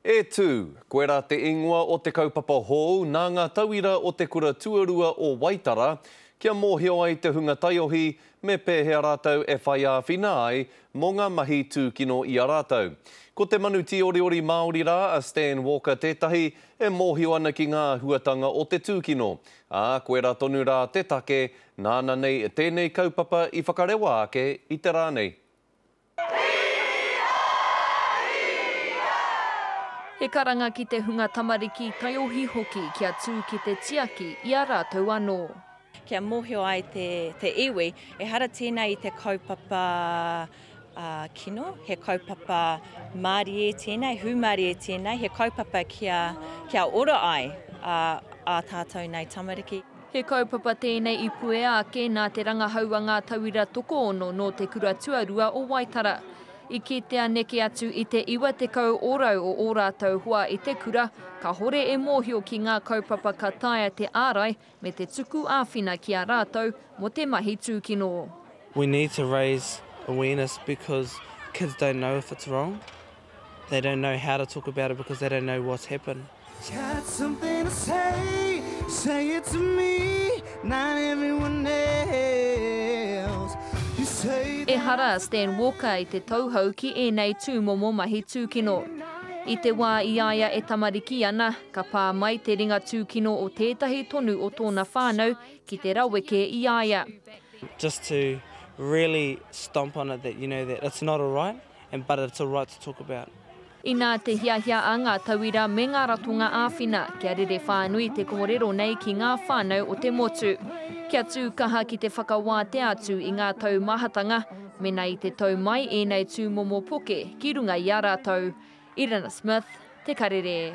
E tū, koe rā te ingoa o te kaupapa hou nā ngā tauira o te kura tuarua o Waitara kia mōhio ai te hunga taiohi me pēhea rātou e whai āwhina ai mō ngā mahi tūkino i a rātou. Ko te manu tīoriori Māori rā a Stan Walker tētahi e mōhio ana ki ngā āhuatanga o te tūkino, ā, koe rā tonu rā te take nāna nei tēnei kaupapa i whakarewa ake i te rā nei. He karanga ki te hunga tamariki, taiohi hoki kia tū ki te tiaki i a rātou anō. Kia mōhio ai te iwi, ehara tēnei i te kaupapa kino, he kaupapa mārie tēnei, hūmārie tēnei, he kaupapa kia ora ai ā tātou nei tamariki. He kaupapa tēnei i puea ake nā te rangahau a ngā tauira tokoono nō Te Kura Tuarua o Waitara. I kitea neke atu i te 90 ōrau o ō rātou hoa i te kura, kāhore e mōhio ki ngā kaupapa ka taea te ārai me te tuku āwhina ki a rātou mō te mahi tūkino. We need to raise awareness because kids don't know if it's wrong. They don't know how to talk about it because they don't know what's happened. Got something to say, say it to me, not everyone else. You say that... Ehara a Stan Walker i te tauhou ki ēnei tūmomo mahi tūkino. I te wā i a ia e tamariki ana, ka pā mai te ringa tūkino o tētahi tonu o tōna whānau ki te raweke i a ia. Just to really stomp on it that you know that it's not alright, And but it's alright to talk about. Inā te hiahia a ngā tauira me ngā ratonga āwhina kia rere whānui te kōrero nei ki ngā whānau o te motu. Kia tū kaha ki te whakawātea atu i ngā taumahatanga mēnā i te tau mai ēnei tūmomo poke ki runga i a rātou. Irina Smith, Te Karere.